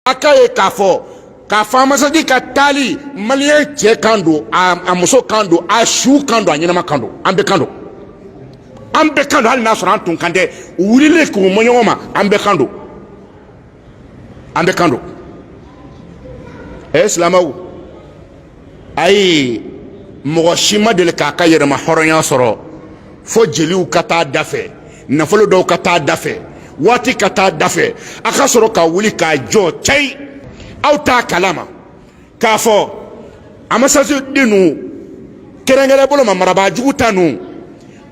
A ka ye k'a fɔ k'a fɔ amasadi ka taali maliyɛn cɛ kan don a muso kan don a su kan don a ɲɛnama kan don an bɛɛ kan don an bɛɛ kan don hali n'a sɔrɔ an tun kantɛ wulili k'u ma ɲɔgɔn ma an bɛɛ kan don an bɛɛ kan don ɛ silamɛw ayi mɔgɔ si ma deli k'a ka yɛrɛmahɔrɔnya sɔrɔ fo jeliw ka taa da fɛ nafolo dɔw ka taa da fɛ waati ka taa da fɛ a ka sɔrɔ ka wuli k'a jɔ cɛyi aw t'a kalama k'a fɔ amasasi den ninnu kɛrɛnkɛrɛn bolo ma marabaa jugu ta ninnu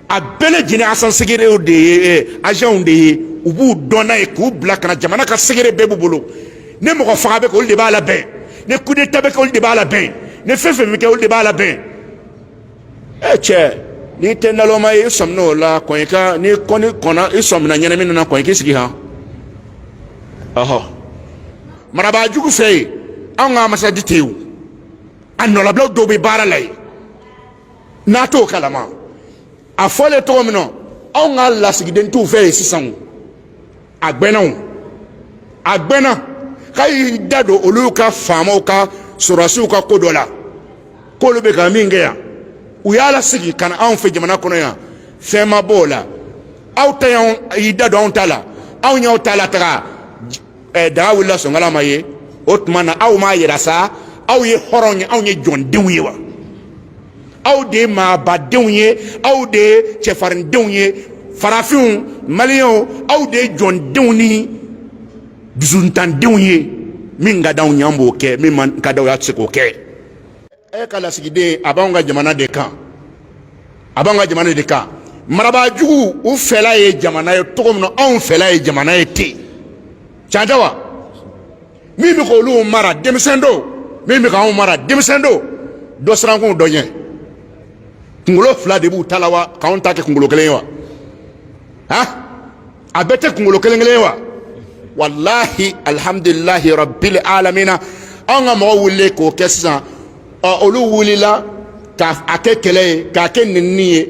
a bɛɛ lajɛlen azan segerew de ye azanw de ye u b'u dɔn n'a ye k'u bila ka na jamana ka segere bɛɛ b'u bolo ni mɔgɔfaga bɛ kɛ olu de b'a labɛn ni kudeta bɛ kɛ olu de b'a labɛn ni fɛn fɛn bɛ kɛ olu de b'a labɛn ɛ cɛ n'i tɛ nalɔma ye i sɔminna o la kɔn i ka n'i kɔni kɔnna i sɔminna ɲɛnamini na kɔn i k'i sigi han ɔhɔ marabaa jugu fɛ yen anw ka amasadi tɛ yen o an nɔlabilaw dɔw bɛ baara la yen n'a t'o kalama a fɔlen cogo min na anw ka lasigiden t'u fɛ yen sisan o a gbɛnna o a gbɛnna k'a y'i da don olu ka faamaw ka sɔrɔdasiw ka ko dɔ la k'olu bɛ ka min kɛ yan u y'a lasigi ka na anw fɛ jamana kɔnɔ yan fɛn ma bɔ o la aw ta y'anw y'i da don anw ta la anw y'aw ta lataga ɛɛ daga wulila sɔnkala ma ye o tuma na aw m'a yira sa aw ye hɔrɔn ye anw ye jɔndenw ye wa aw de ye maabadenw ye aw de ye cɛfarindenw ye farafinw maliyɛnw anw de ye jɔndenw ni dusutandenw ye min ka d'aw ye an b'o kɛ min man ka d'aw ye an tɛ se k'o kɛ e ka lasigiden a b'anw ka jamana de kan a b'anw ka jamana de kan marabaa jugu u fɛla ye jamana ye cogo min na anw fɛla ye jamana ye ten can tɛ wa min bɛ k'olu mara denmisɛn don min bɛ k'anw mara denmisɛn don dɔ sirankun dɔ ɲɛ kunkolo fila de b'u ta la wa k'anw ta kɛ kunkolo kelen ye wa han a bɛɛ tɛ kunkolo kelen kelen ye wa walahi alihamudulilahi rabili alamina anw ka mɔgɔw wulilen k'o kɛ sisan ɔ olu wulila k'a kɛ kɛlɛ ye k'a kɛ nenini ye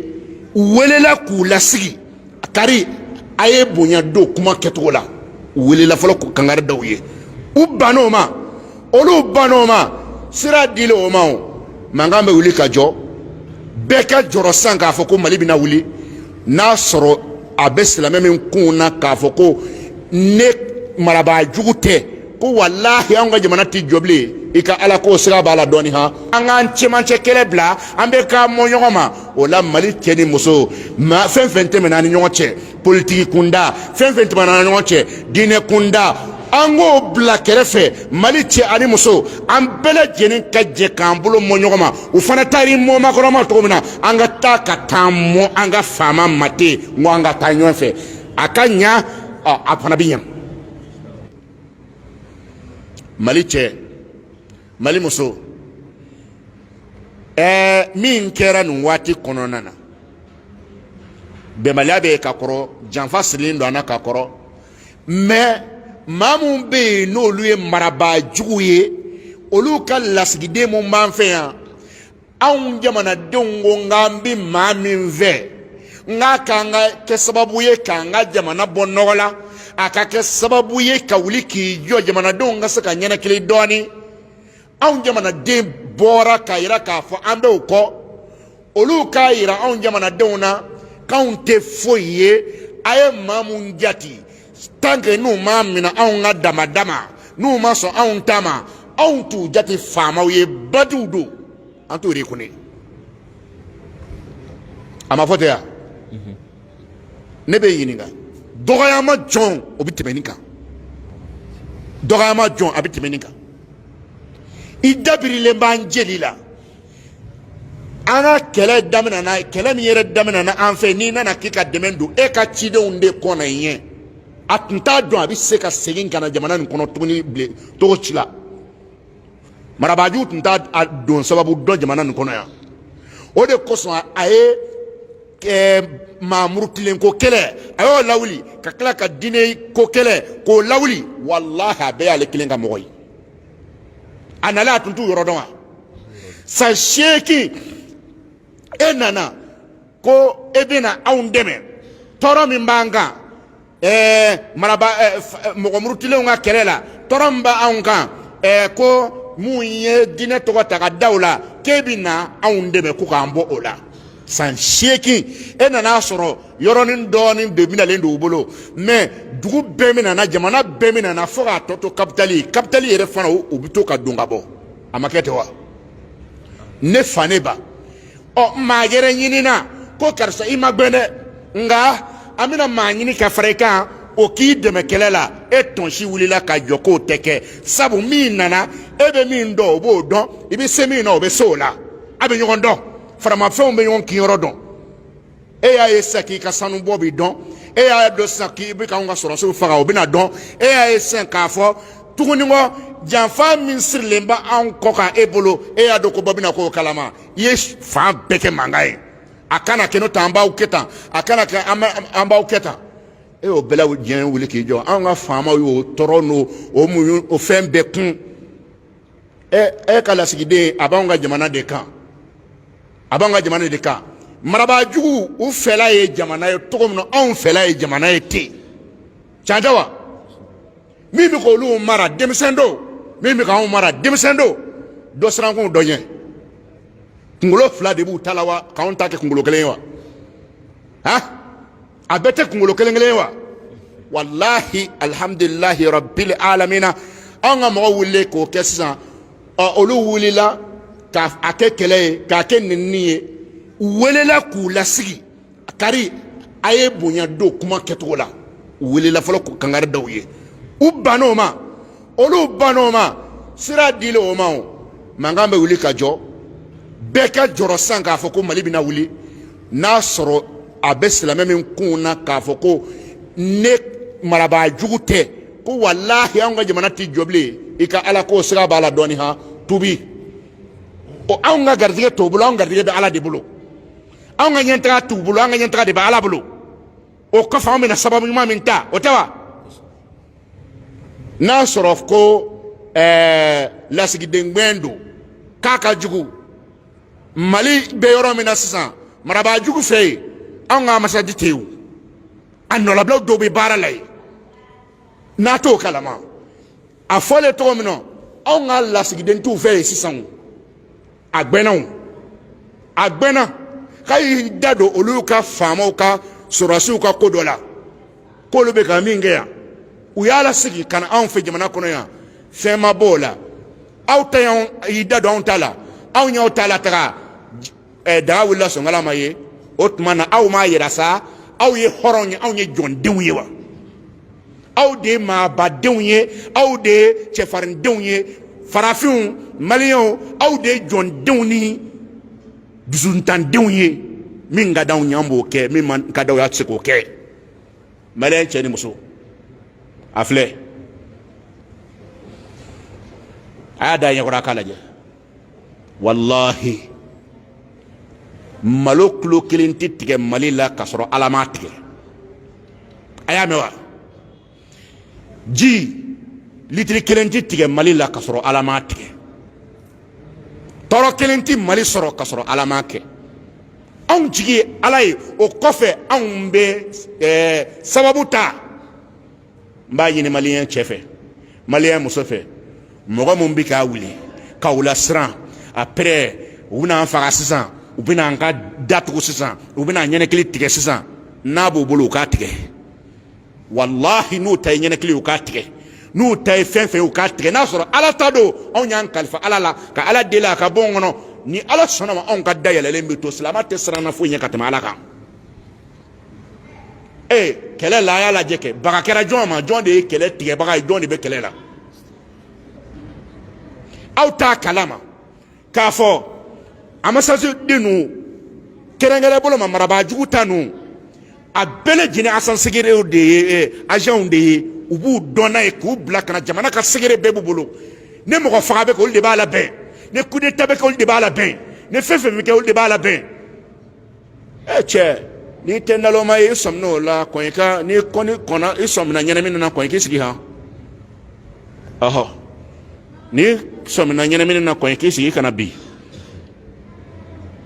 u welela k'u lasigi kari a ye bonya don kuma kɛcogo la u welela fɔlɔ ka kangari da u ye u banna o ma olu banna o ma sira dilen o ma o mankan bɛ wuli ka jɔ bɛɛ ka jɔrɔ sisan k'a fɔ ko mali bɛna wuli n'a sɔrɔ a bɛ silamɛ min kunw na k'a fɔ ko ni marabaa jugu tɛ ko walahi an ka jamana tɛ jɔ bilen i ka alako siga b'a la dɔɔni han an k'an cɛmancɛ kɛlɛ bila an bɛɛ ka mɔ ɲɔgɔn ma o la mali cɛ ni muso ma fɛn fɛn tɛmɛna an ni ɲɔgɔn cɛ politiki kunda fɛn fɛn tɛmɛna an ni ɲɔgɔn cɛ diinɛ kunda an k'o bila kɛrɛfɛ mali cɛ ani muso an bɛɛ lajɛlen ka jɛ k'an bolo mɔ ɲɔgɔn ma u fana taara i mɔ makɔrɔn ma cogo min na an ka taa ka t'an mɔ an ka faama ma ten n ko an ka taa ɲɔgɔn fɛ a ka ɲa a fana bɛ ɲa mali cɛ mali muso ɛɛ min kɛra nin waati kɔnɔna na bɛnbaliya bɛ ka kɔrɔ janfa sirilen don an na ka kɔrɔ mais maa minnu bɛ yen n'olu ye marabaa jugu ye olu ka lasigiden min b'an fɛ yan anw jamanadenw ko k'an bɛ maa min fɛ k'a kan ka kɛ sababu ye k'an ka jamana bɔ nɔgɔ la a ka kɛ sababu ye ka wuli k'i jɔ jamanadenw ka se ka ninakili dɔɔnin anw jamanaden bɔra k'a yira k'a fɔ an bɛ o kɔ olu k'a yira anw jamanadenw na k'anw tɛ foyi ye a ye maa minnu jate tant que n'u m'a minɛ anw ka dama dama n'u ma sɔn anw ta ma anw t'u jate faamaw ye bandiw don an t'u reconnaît a ma fɔ ten yan ne bɛ ɲininka dɔgɔyama jɔn o bɛ tɛmɛ nin kan dɔgɔyama jɔn a bɛ tɛmɛ nin kan i dabirilen b'an jeli la an ka kɛlɛ daminɛna kɛlɛ min yɛrɛ daminɛna an fɛ n'i nana k'i ka dɛmɛ don e ka cidenw de kɔnna i ɲɛ a tun t'a dɔn a bɛ se ka segin ka na jamana nin kɔnɔ tuguni bilen cogo si la marabaa jugu tun t'a don sababu dɔn jamana nin kɔnɔ yan o de kosɔn a ye ɛɛ maa murutilen ko kɛlɛ a y'o lawuli ka tila ka diinɛ ko kɛlɛ k'o lawuli walahi a bɛɛ y'ale kelen ka mɔgɔ ye a nalen a tun t'u yɔrɔ dɔn wa san seegin e nana ko e bɛna anw dɛmɛ tɔɔrɔ min b'an kan ɛɛ maraba mɔgɔ murutilenw ka kɛlɛ la tɔɔrɔ min b'anw kan ɛɛ ko minnu ye diinɛ tɔgɔ ta ka da u la k'e bɛ na anw dɛmɛ ko k'an bɔ o la san seegin e nana a sɔrɔ yɔrɔnin dɔɔnin de minalen don u bolo mais dugu bɛɛ minana jamana bɛɛ minana fo k'a tɔ to kapitali kapitali yɛrɛ fana u bɛ to ka don ka bɔ a ma kɛ ten wa ne fa ne ba ɔ maa wɛrɛ ɲinina ko karisa i ma gbɛn dɛ nka an bɛna maa ɲini ka fara i kan o k'i dɛmɛ kɛlɛ la e tɔnsi wulila ka jɔ k'o tɛ kɛ sabu min nana e bɛ min dɔn o b'o dɔn i bɛ se min na o bɛ se o la a bɛ ɲɔgɔn dɔn faramafɛnw bɛ ɲɔgɔn kinyɔrɔ dɔn e y'a ye sisan k'i ka sanubɔ bɛ dɔn e y'a dɔn sisan k'i bɛ k'anw ka sɔrɔdasiw faga o bɛna dɔn e y'a ye sisan k'a fɔ tuguni ko janfa min sirilen bɛ anw kɔ kan e bolo e y'a dɔn ko bɔ bɛna k'o kalama i ye fan bɛɛ kɛ mankan ye a kana kɛ n'o tɛ an b'aw kɛ tan a kana kɛ an b'aw kɛ tan e y'o bɛɛ la diɲɛ wuli k'i jɔ anw ka faamaw y'o tɔɔrɔ n'o o muɲu o fɛn bɛɛ kun ɛ e ka lasigiden a b'anw ka jamana de kan a b'anw ka jamana de kan marabaa jugu u fɛla ye jamana ye cogo min na anw fɛla ye jamana ye ten can tɛ wa min bɛ k'olu mara denmisɛn don min bɛ k'anw mara denmisɛn don dɔ sirankun dɔ ɲɛ kunkolo fila de b'u ta la wa k'anw ta kɛ kunkolo kelen ye wa han a bɛɛ tɛ kunkolo kelen kelen ye wa walahi alihamudulilahi rabili alamina anw ka mɔgɔ wulilen k'o kɛ sisan ɔ olu wulila k'a a kɛ kɛlɛ ye k'a kɛ nenini ye u welela k'u lasigi kari a ye bonya don kuma kɛcogo la u welela fɔlɔ k'u kangari da u ye u banna o ma olu banna o ma sira dilen o ma o mankan bɛ wuli ka jɔ bɛɛ ka jɔrɔ sisan k'a fɔ ko mali bɛna wuli n'a sɔrɔ a bɛ silamɛ min kun na k'a fɔ ko ni marabaa jugu tɛ ko walahi anw ka jamana tɛ jɔ bilen i ka ala ko siga b'a la dɔɔni han tubi o anw ka garijɛgɛ t'o bolo anw garijɛgɛ bɛ ala de bolo anw ka ɲɛtaga t'u bolo an ka ɲɛtaga de bɛ ala bolo o kɔfɛ anw bɛna sababu ɲuman min ta o tɛ wa n'a sɔrɔ ko ɛɛ lasigidengbɛn don k'a ka jugu mali bɛ yɔrɔ min na sisan marabaa jugu fɛ yen anw ka anbasadi tɛ yen a nɔlabilaw dɔw bɛ baara la yen n'a t'o kalama a fɔlen cogo min na anw ka lasigiden t'u fɛ yen sisan a gbɛnna o a gbɛnna k'a y'i da don olu ka faamaw ka sɔrɔdasiw ka ko dɔ la k'olu bɛ ka min kɛ yan u y'a lasegin ka na anw fɛ jamana kɔnɔ yan fɛn ma bɔ o la aw ta y'anw y'i da don anw ta la anw y'aw ta lataga eh, daga wulila sonkala ma ye o tuma na aw m'a yira sa aw ye hɔrɔnw ye anw ye jɔndenw ye wa aw de ye maabadenw ye aw de ye cɛfarindenw ye farafinw maliyɛnw aw de ye jɔndenw ni dusuntandenw ye min ka d'anw ye an b'o kɛ min man ka d'aw ye aw tɛ se k'o kɛ maliyɛn cɛ ni muso a filɛ a y'a da ɲɛkɔrɔ a k'a lajɛ walahi malo kilo kelen tɛ tigɛ mali la k'a sɔrɔ ala m'a tigɛ a y'a mɛn wa ji litiri kelen tɛ tigɛ mali la k'a sɔrɔ ala m'a tigɛ tɔɔrɔ kelen tɛ mali sɔrɔ k'a sɔrɔ ala m'a kɛ anw jigi ye ala ye o kɔfɛ anw bɛ sababu ta n b'a ɲini maliyɛn cɛ fɛ maliyɛn muso fɛ mɔgɔ min bɛ ka wuli ka aw lasiran après u bɛna an faga sisan u bɛna an ka da tugu sisan u bɛna an ɲɛnakili tigɛ sisan n'a b'u bolo u k'a tigɛ walahi n'u ta ye ɲɛnɛkili u k'a tigɛ n'u ta ye fɛn fɛn u k'a tigɛ n'a sɔrɔ ala ta don anw y'an kalifa ala la ka ala deli a ka bon kɔnɔ ni ala sɔnna ma anw ka da yɛlɛlen bɛ to silamɛ tɛ siranna foyi ɲɛ ka tɛmɛ ala kan ee kɛlɛ la a y'a lajɛ kɛ baga kɛra jɔn ma jɔn de ye kɛlɛ tigɛbaga ye jɔn de bɛ kɛlɛ la aw t'a kalama k'a fɔ ambassade ninnu kɛrɛnkɛrɛn bolo ma marabaa jugu ta ninnu a bɛɛ lajɛlen agents secrets de ye agents de ye u b'u dɔnna ye k'u bila ka na jamana ka secret bɛɛ b'u bolo ni mɔgɔ faga bɛ kɛ olu de b'a labɛn ni coup d'état bɛ kɛ olu de b'a labɛn ni fɛn fɛn bɛ kɛ olu de b'a labɛn ɛ cɛ n'i tɛ naloma ye i sɔmin o la kɔn i ka n'i kɔni kɔnna i sɔmina ɲɛnamini na kɔn i k'i sigi han ɔhɔ n'i sɔmina ɲɛnamini na kɔn i k'i sigi i kana bin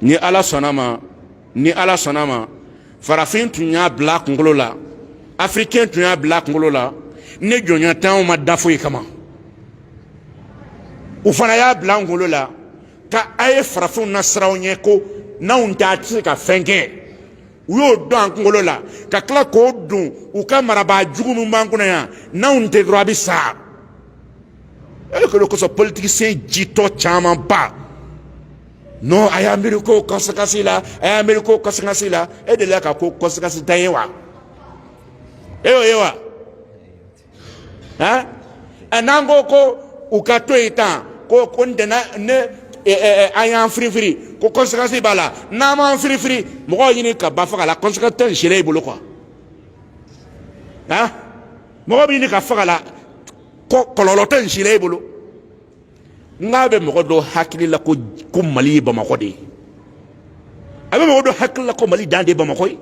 ni ala sɔnna ma ni ala sɔnna ma farafin tun y'a bila a kunkolo la afirikɛn tun y'a bila a kunkolo la ni jɔnya t'anw ma da foyi kama u fana y'a bila an kunkolo la ka a ye farafinw nasiran aw ɲɛ ko n'anw tɛ a tɛ se ka fɛn kɛ u y'o don an kunkolo la ka tila k'o don u ka marabaa jugu min b'an kun na yan n'anw tɛ dɔrɔn a bɛ sa e bɛ kolo kosɔn politikisiyɛn jitɔ camanba non a y'a miiri ko conséquence la a y'a miiri ko conséquence la e delila ka ko conséquence ntan ye wa e y'o ye wa. hein eh, n'an ko ko u ka to yen tan ko ko n tɛna ni an y'an firifiri ko conséquence b'a la n'an m'an firifiri mɔgɔw ɲini ka ban faga la conséquence t'a si la i bolo quoi hein mɔgɔ bɛ ɲini ka faga la kɔlɔlɔ t'a si la i bolo nk'a bɛ mɔgɔ dɔ hakili la ko ko mali ye bamakɔ de ye a bɛ mɔgɔ dɔ hakili la ko mali dan de ye bamakɔ ye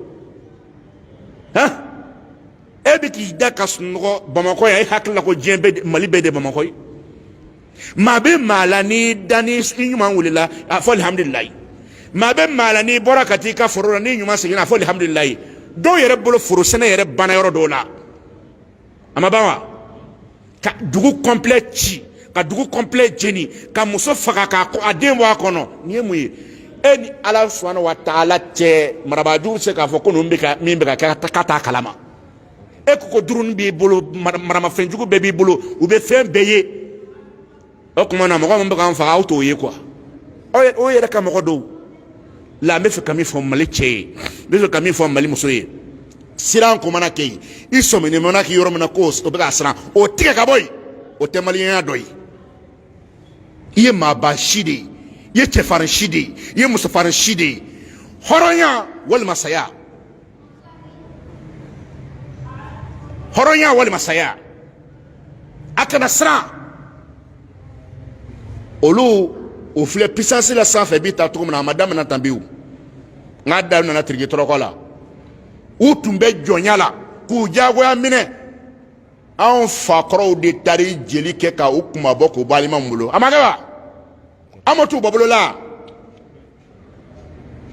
hein e bɛ k'i da ka sunɔgɔ bamakɔ yan e hakili la ko diɲɛ bɛɛ mali bɛɛ de bamakɔ ye maa bɛ maa la n'i da n'i ɲuman wulila a fɔ alihamudulilayi maa bɛ maa la n'i bɔra ka t'i ka foro la n'i ɲuman seginna a fɔ alihamudulilayi dɔw yɛrɛ bolo foro sɛnɛ yɛrɛ banna yɔrɔ dɔw la a ma ban wa ka dugu kɔnplɛ ci ka dugu kɔnplɛ jeni ka muso faga k'a den bɔ a kɔnɔ nin ye mun ye e ni ala subahana wa taala cɛ marabaajugu bɛ se k'a fɔ ko ninnu bɛ ka min bɛ ka kɛ k'a t'a kalama e ko ko drone b'i bolo maramafɛnjugu bɛɛ b'i bolo u bɛ fɛn bɛɛ ye o tuma na mɔgɔ min bɛ k'an faga aw t'o ye kuwa o yɛrɛ ka mɔgɔ dɔw la n bɛ fɛ ka min fɔ mali cɛ ye n bɛ fɛ ka min fɔ mali muso ye siran ko mana kɛ yen i sɔminen mana kɛ yɔrɔ min na ko o bɛ ka siran o tigɛ ka bɔ yen o tɛ maliyɛnya dɔ ye i ye maaba si de ye i ye cɛfarin si de ye i ye musofarin si de ye hɔrɔnya walima saya hɔrɔnya walima saya a kana siran olu o filɛ pisansi la sanfɛ bi ta cogo min na a ma damina tan bi o n k'a da nana tiriki tɔrɔkɔ la u tun bɛ jɔnya la k'u diyagoya minɛ anw fakɔrɔw de taara jeli kɛ ka u kunmabɔ k'u bɔ aliman bolo a ma kɛ wa an ma t'u bɔ bolo la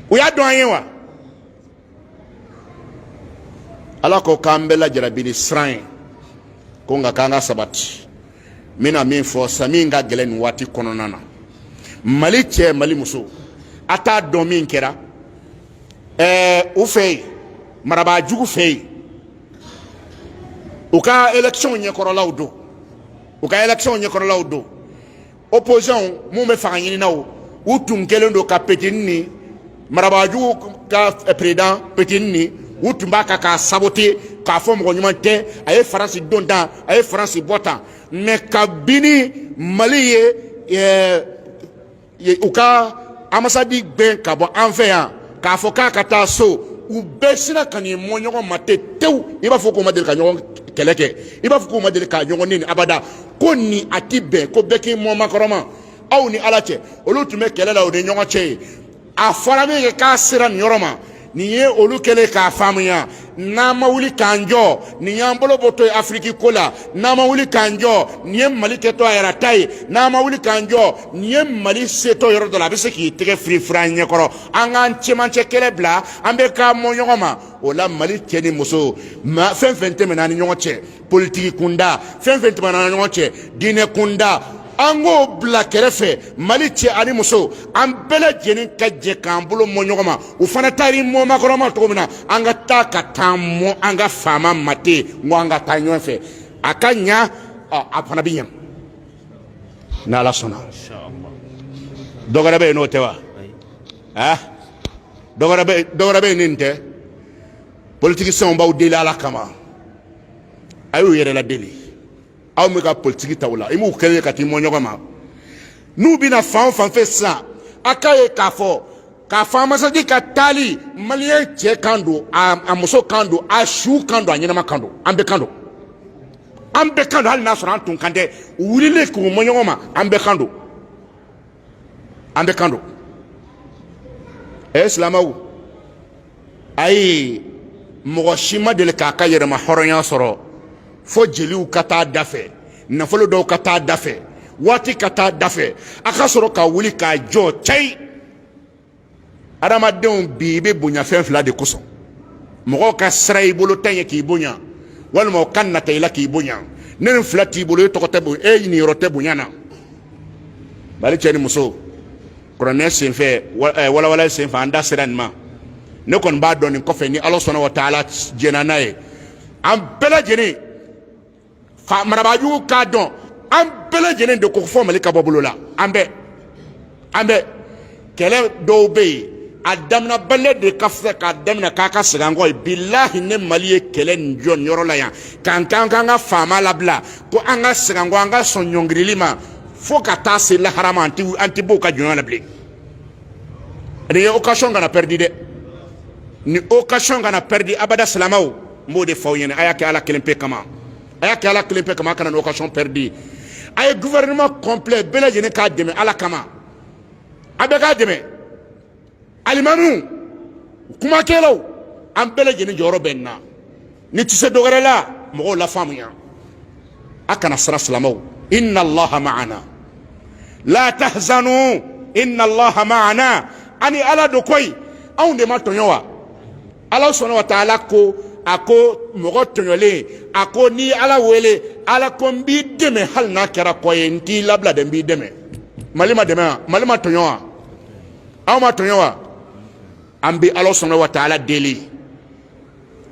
u y'a dɔn an ye wa ala ko k'an bɛɛ lajarabi ni siran ye ko nka k'an ka sabati n bɛna min fɔ sa min ka gɛlɛn nin waati kɔnɔna na mali cɛ mali muso a t'a dɔn min kɛra ɛɛ u fɛ yen marabaa jugu fɛ yen u ka elekisɔnw ɲɛkɔrɔlaw don u ka elekisɔnw ɲɛkɔrɔlaw don opposition min bɛ fanga ɲininaw u tun kɛlen don ka petini ni marabagajugu ka peresidan petini ni u tun b'a kan k'a sabote k'a fɔ mɔgɔ ɲuman tɛ a ye faransi don tan a ye faransi bɔ tan mɛ kabini mali ye u ka anbasadi gɛn ka bɔ an fɛ yan k'a fɔ k'a ka taa so u bɛɛ sinna ka n'i mɔ ɲɔgɔn ma ten tewu i b'a fɔ k'u ma deli ka ɲɔgɔn kɛlɛ kɛ i b'a fɔ k'u ma deli ka ɲɔgɔn neni abada ko ni a ti bɛn ko bɛɛ k'i mɔ makɔrɔn ma aw ni ala cɛ olu tun bɛ kɛlɛ la u ni ɲɔgɔn cɛ yen a fɔra min kɛ k'a sera nin yɔrɔ ma nin ye olu kɛlen k'a faamuya n'an ma wuli k'an jɔ nin y'an bolo bɔtɔ ye afiriki ko la n'an ma wuli k'an jɔ nin ye mali kɛtɔ a yɛrɛ ta ye n'an ma wuli k'an jɔ nin ye mali setɔ yɔrɔ dɔ la a bɛ se k'i tɛgɛ firifiri an ɲɛkɔrɔ an k'an cɛmancɛ kɛlɛ bila an bɛɛ k'an mɔ ɲɔgɔn ma o la mali cɛ ni muso fɛn fɛn tɛmɛna an ni ɲɔgɔn cɛ politiki kunda fɛn fɛn tɛmɛna an ni ɲɔgɔn cɛ diinɛ kunda an k'o bila kɛrɛfɛ mali cɛ ani muso an bɛɛ lajɛlen ka jɛ k'an bolo mɔ ɲɔgɔn ma u fana taara i mɔ makɔrɔn ma cogo min na an ka taa ka t'an mɔ an ka faama ma ten n ko an ka taa ɲɔgɔn fɛ a ka ɲa a fana bɛ ɲa ni ala sɔnna dɔ wɛrɛ bɛ yen n'o tɛ wa dɔ wɛrɛ bɛ yen ni nin tɛ politikisɛnw b'aw deli ala kama a y'u yɛrɛ ladeli aw bɛ ka politiki ta o la i m'u kɛlen ye ka t'i mɔ ɲɔgɔn ma n'u bɛna fan o fan fɛ sisan a k'a ye k'a fɔ k'a fɔ anbasadi ka taali maliyɛn cɛ kan don a muso kan don a su kan don a ɲɛnama kan don an bɛɛ kan don an bɛɛ kan don hali n'a sɔrɔ an tun kan tɛ u wulilen k'u mɔ ɲɔgɔn ma an bɛɛ kan don an bɛɛ kan don ɛ silamɛw ayi mɔgɔ si ma deli k'a ka yɛrɛmahɔrɔnya sɔrɔ fo jeliw ka taa da fɛ nafolo dɔw ka taa da fɛ waati ka taa da fɛ a ka sɔrɔ ka wuli k'a jɔ cɛyi adamadenw bi i bɛ bonya fɛn fila de kosɔn mɔgɔw ka siran i bolo ta ɲɛ k'i bonya walima u ka nata i la k'i bonya ni nin fila t'i bolo e tɔgɔ tɛ bonya e niyɔrɔ tɛ bonya na balima cɛ ni muso kuranɛ senfɛ eh, walawala senfɛ an da sera nin ma ne kɔni b'a dɔn nin kɔfɛ ni ala subhana wa taala jɛnna n'a ye an bɛɛ lajɛlen fo marabaajugu k'a dɔn an bɛɛ lajɛlen de ko fo mali ka bɔ bolo la an bɛɛ an bɛɛ kɛlɛ dɔw bɛ yen a daminɛbaliya de ka fisa k'a daminɛ k'an ka segin an kɔ ye bilahi ni mali ye kɛlɛ nin jɔ nin yɔrɔ la yan k'an k'an k'an ka faama labila ko an ka segin an kɔ an ka sɔn ɲɔngirili ma fo ka taa se lahara ma an ti an ti bɔ u ka jɔnya la bilen nin ye occasion kana pɛridi dɛ nin occasion kana pɛridi abada silamɛw n b'o de fɔ aw ɲɛna a y'a kɛ ala kelen pe kama a y'a kɛ ala kelen pe kama a kana nin occasion perdu a ye gouvernement complet bɛɛ lajɛlen k'a dɛmɛ ala kama a bɛɛ k'a dɛmɛ alimamiw kumakɛlaw an bɛɛ lajɛlen jɔyɔrɔ bɛ nin na n'i tɛ se dɔ wɛrɛ la mɔgɔw lafaamuya a kana siran silamɛw inna allaha ma'ana la tahzanu inna allaha ma'ana an ni ala don koyi anw de ma tɔɲɔ wa ala subhana wa taala ko a ko mɔgɔ tɔɲɔlen a ko n'i ye ala wele ala ko n b'i dɛmɛ hali n'a kɛra kɔ ye n t'i labila dɛ n b'i dɛmɛ mali ma dɛmɛ wa mali ma tɔɲɔ wa aw ma tɔɲɔ wa an bɛ ala subhana wa taala deli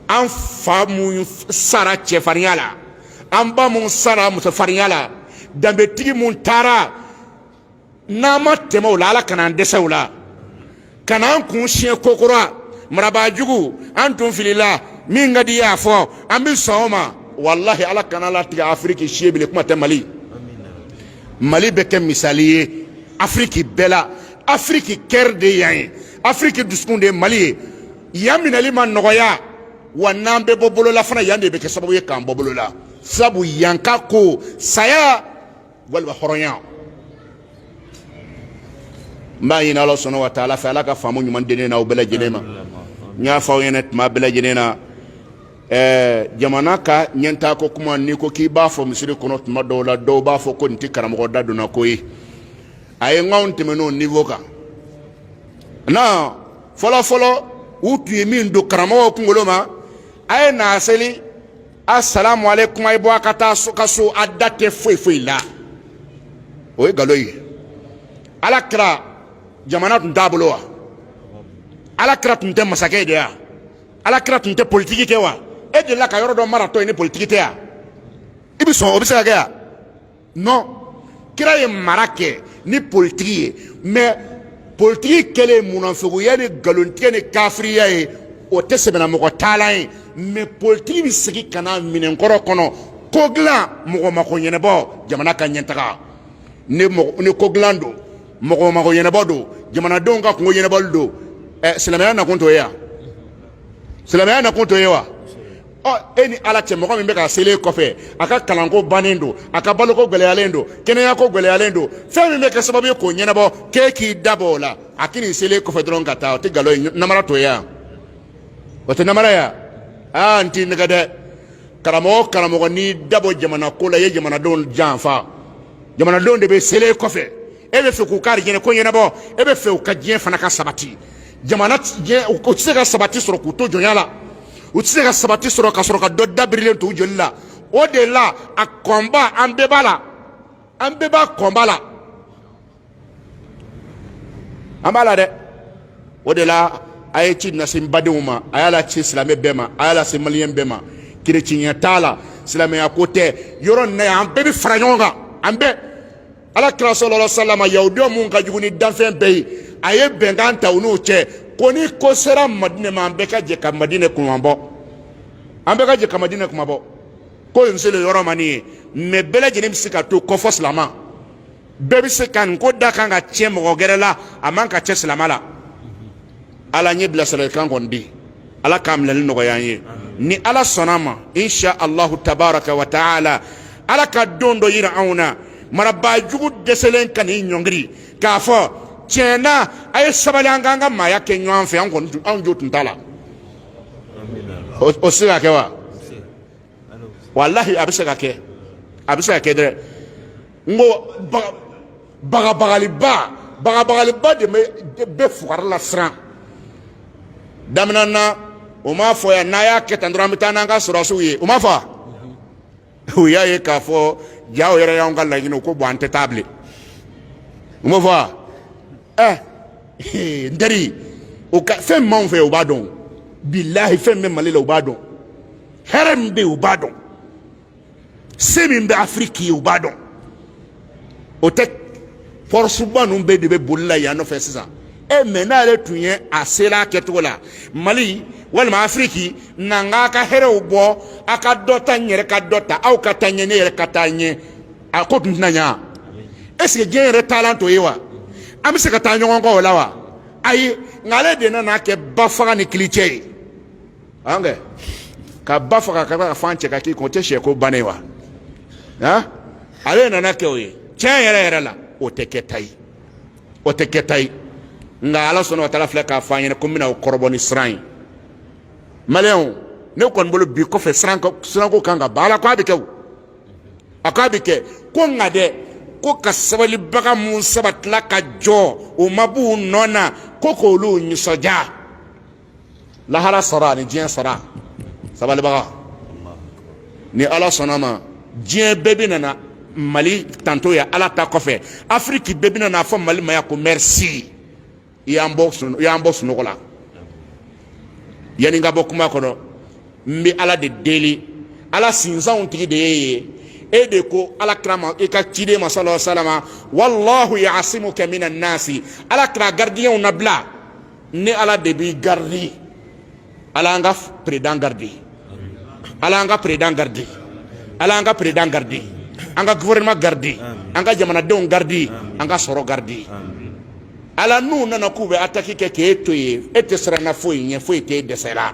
an fa mun sara cɛfarinya la an ba mun sara musofarinya la danbetigi mun taara n'an ma tɛmɛ o la ala kana an dɛsɛ o la ka n'an kun siɲɛ kokura marabaajugu an tun filila min ka di y'a fɔ an bɛ sɔn o ma walahi ala kana a latigɛ afiriki si ye bilen kuma tɛ mali mali bɛ kɛ misali ye afiriki bɛɛ la afiriki cœur de yan ye afiriki dusukun de ye mali ye yan minɛli ma nɔgɔya wa n'an bɛ bɔ bolo la fana yan de bɛ kɛ sababu ye k'an bɔ bolo la sabu yan ka ko saya walima hɔrɔnya n b'a ɲini ala subhana wa taala fɛ ala ka faamu ɲuman di ne na aw bɛɛ lajɛlen ma n y'a fɔ aw ɲɛna tuma bɛɛ lajɛlen na ɛɛ jamana ka ɲɛtaako kuma n'i ko k'i b'a fɔ misiri kɔnɔ tuma dɔw la dɔw b'a fɔ ko nin tɛ karamɔgɔ da donna ko ye a ye n k'anw tɛmɛn'o niveau kan nɔn fɔlɔfɔlɔ u tun ye min don karamɔgɔw kunkolo ma a ye na seli a salamu aleykum a ye bɔ a ka taa so ka so a da tɛ foyi foyi la o ye nkalon ye ala kira jamana tun t'a bolo wa ala kira tun tɛ masakɛ de wa ala kira tun tɛ politiki kɛ wa e delila ka yɔrɔ dɔ maratɔ ye ni politiki tɛ wa i bɛ sɔn o bɛ se ka kɛ wa nɔn kira ye mara kɛ ni politiki ye mɛ politiki kɛlen munafigiya ni nkalontigɛ ni kafiriya ye o tɛ sɛbɛnamɔgɔ taalan ye mɛ politiki bɛ segin ka na minɛnkɔrɔ kɔnɔ ko dilan mɔgɔ mako ɲɛnabɔ jamana ka ɲɛtaga ni ko dilan don mɔgɔ mako ɲɛnabɔ don jamanadenw ka kunko ɲɛnabɔli don silamɛya nakun t'o ye wa silamɛya nakun t'o ye wa ɔ e ni ala cɛ mɔgɔ min bɛ ka seli e kɔfɛ a ka kalanko bannen don a ka baloko gɛlɛyalen don kɛnɛyako gɛlɛyalen don fɛn min bɛ kɛ sababu ye k'o ɲɛnabɔ k'e k'i dabɔ o la a k'i nin seli e kɔfɛ dɔrɔn ka taa o tɛ nkalon ye namara t'o ye wa o tɛ namara ye wa aa n t'i nɛgɛn dɛ karamɔgɔ karamɔgɔ n'i dabɔ jamana ko la i ye jamanadenw janfa jamanadenw de bɛ seli e kɔfɛ e bɛ fɛ k'u ka arijɛnɛ ko ɲɛnabɔ e bɛ fɛ u ka diɲɛ fana ka sabati jamana diɲɛ u tɛ se ka sabati sɔrɔ k'u to jɔnya la u tɛ se ka sabati sɔrɔ ka sɔrɔ ka dɔ dabirilen to u joli la o de la a kɔnba an bɛɛ b'a la an bɛɛ b'a kɔnba la an b'a la dɛ o de la a ye ci lase n badenw ma a y'a lase silamɛ bɛɛ ma a y'a lase maliyɛn bɛɛ ma kerecɛnya t'a la silamɛya ko tɛ yɔrɔ nin na yan an bɛɛ bɛ fara ɲɔgɔn kan an bɛɛ ala kira salalahu alayhi wa salam yahudiyaw min ka jugu ni danfɛn bɛɛ ye a ye bɛnkan ta u n'u cɛ ko ni ko sera madinɛ ma an bɛɛ ka jɛ ka madinɛ kunmabɔ an bɛɛ ka jɛ ka madinɛ kunmabɔ ko nin selen yɔrɔ ma nin ye mɛ bɛɛ lajɛlen bɛ se ka to kɔfɔ silama bɛɛ bɛ se ka nin ko da kan ka tiɲɛ mɔgɔ gɛrɛ la a man ka cɛ silama la ala ɲɛ bilasiralikan kɔni di ala k'a minɛli nɔgɔya an ye ni ala sɔnna a ma insha allahu tabaraka wa taala ala ka don dɔ yira anw na marabaa jugu dɛsɛlen ka n'i ɲɔngiri k'a fɔ tiɲɛ na a ye sabali an k'an ka maaya kɛ ɲɔgɔn fɛ an kɔni anw jo tun t'a la o se ka kɛ wa walahi a bɛ se ka kɛ a bɛ se ka kɛ dɛ n ko bagabagaliba bagabagaliba de bɛ fugari lasiran daminɛ na o m'a fɔ yan n'a y'a kɛ tan dɔrɔn an bɛ taa n'an ka sɔrɔdasiw ye o m'a fɔ u y'a ye k'a fɔ jaa o yɛrɛ y'anw ka laɲini ko bɔn an tɛ taa bilen u m'a fɔ wa ɛ n teri o ka fɛn min b'anw fɛ u b'a dɔn bilahi fɛn min bɛ mali la u b'a dɔn hɛrɛ min bɛ yen u b'a dɔn se min bɛ afiriki ye u b'a dɔn o tɛ pɔrɔsuba ninnu bɛɛ de bɛ boli la yan nɔfɛ sisan e mɛ n'ale tun ye a sera a kɛcogo la mali walima afiriki na n k'a ka hɛrɛw bɔ a ka dɔ ta n yɛrɛ ka dɔ ta aw ka taa ɲɛ ne yɛrɛ ka taa ɲɛ a ko tun tɛna ɲa est ce que diɲɛ yɛrɛ taalan t'o ye wa an bɛ se ka taa ɲɔgɔn kɔ o la wa ayi nka ale de nana kɛ ba faga ni kili cɛ ye an kɛ ka ba faga k'a ka fan cɛ ka k'i kun o tɛ sɛko bannen wa han ale nana kɛ o ye tiɲɛ yɛrɛ yɛrɛ la o tɛ kɛta ye o tɛ kɛta ye nka ala subhana wa taala filɛ k'a fɔ an ɲɛna ko n bɛna aw kɔrɔbɔ ni siran ye maliyɛnw ne kɔni bolo bi kɔfɛ siranko kan ka ban ala ko a bɛ kɛ o a k'a bɛ kɛ ko nka dɛ ko ka sabalibaga minnu sabatila ka jɔ u ma b'u nɔ na ko k'olu nisɔndiya lahara sɔrɔ ani diɲɛ sɔrɔ sabalibaga ni ala sɔnn'a ma diɲɛ bɛɛ bɛna na mali tando ye ala ta kɔfɛ afiriki bɛɛ bɛna n'a fɔ mali ma yan ko mɛrisi i y'an bɔ sun i y'an bɔ sunɔgɔ la yanni n ka bɔ kuma kɔnɔ n bɛ ala de deli ala sinsanw tigi de y'e ye e de ko ala kira ma i ka ciden ma sala salama wallahu yasimuka mina nasi ala kira garidiyɛnw nabila ne ala de b'i garidi ala an ka peredan garidi ala an ka peredan garidi ala an ka peredan garidi an ka gouvernement garidi an ka jamanadenw garidi an ka sɔrɔ garidi ala n'u nana k'u bɛ ataki kɛ k'e to yen e tɛ siranna foyi ɲɛ foyi t'e dɛsɛra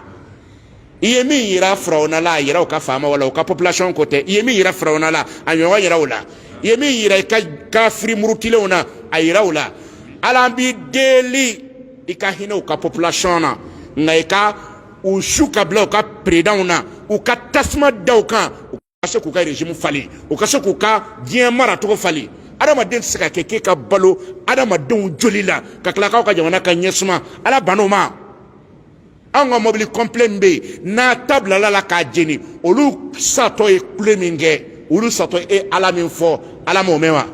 i ye min yira firawuna la a yira u ka faamaw la u ka population ko tɛ i ye min yira firawuna la a ɲɔgɔn yira u la i ye min yira i ka kafiri murutilenw na a yira u la ala an b'i deli i ka hinɛ u ka population na nka i ka u su ka bila u ka peredanw na u ka tasuma da u kan u ka se k'u ka regime falen u ka se k'u ka diɲɛ maracogo falen adamaden tɛ se ka kɛ k'e ka balo adamadenw joli la ka tila k'aw ka jamana ka ɲɛsuma ala ban'o ma anw ka mɔbili kɔnpilɛ min bɛ yen n'a ta bilal'a la k'a jeni olu satɔ ye kule min kɛ olu satɔ ye ala min fɔ ala m'o mɛn wa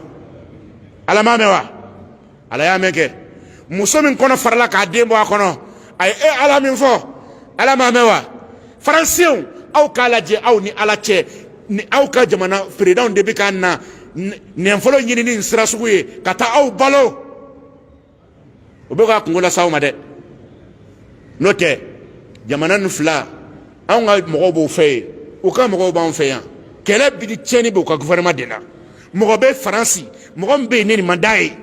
ala m'a mɛn wa ala y'a mɛn kɛ muso min kɔnɔ farala k'a den bɔ a kɔnɔ a ye e ala min fɔ ala m'a mɛn wa faransɛw aw k'a lajɛ aw ni ala cɛ ni aw ka jamana présidentw de bɛ ka na nafolo ɲini nin sira sugu ye ka taa aw balo u bɛ ka kunko lase aw ma dɛ n'o tɛ jamana nin fila anw ka mɔgɔw b'u fɛ yen u ka mɔgɔw b'anw fɛ yan kɛlɛ bɛ di tiɲɛni b'u ka gouvernement de la mɔgɔ bɛ faransi mɔgɔ min bɛ yen ni nin man d'a ye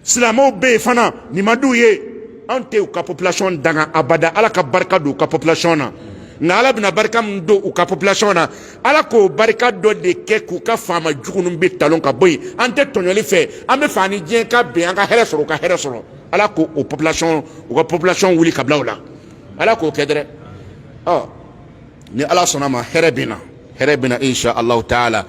silamɛw bɛ yen fana nin man d'u ye anw tɛ u ka population danga abada ala ka barika don u ka population na nka ala bɛna barika min don u ka population na ala k'o barika dɔ de kɛ k'u ka faama jugu ninnu bɛ talon ka bɔ yen an tɛ tɔɲɔli fɛ an b'a fɛ an ni diɲɛ ka bɛn an ka hɛrɛ sɔrɔ u ka hɛrɛ sɔrɔ ala k'o o population u ka population wuli ka bila u la ala k'o kɛ dɛrɛ ɔ ni ala sɔnna a ma hɛrɛ bɛ na hɛrɛ bɛ na insha allahu taala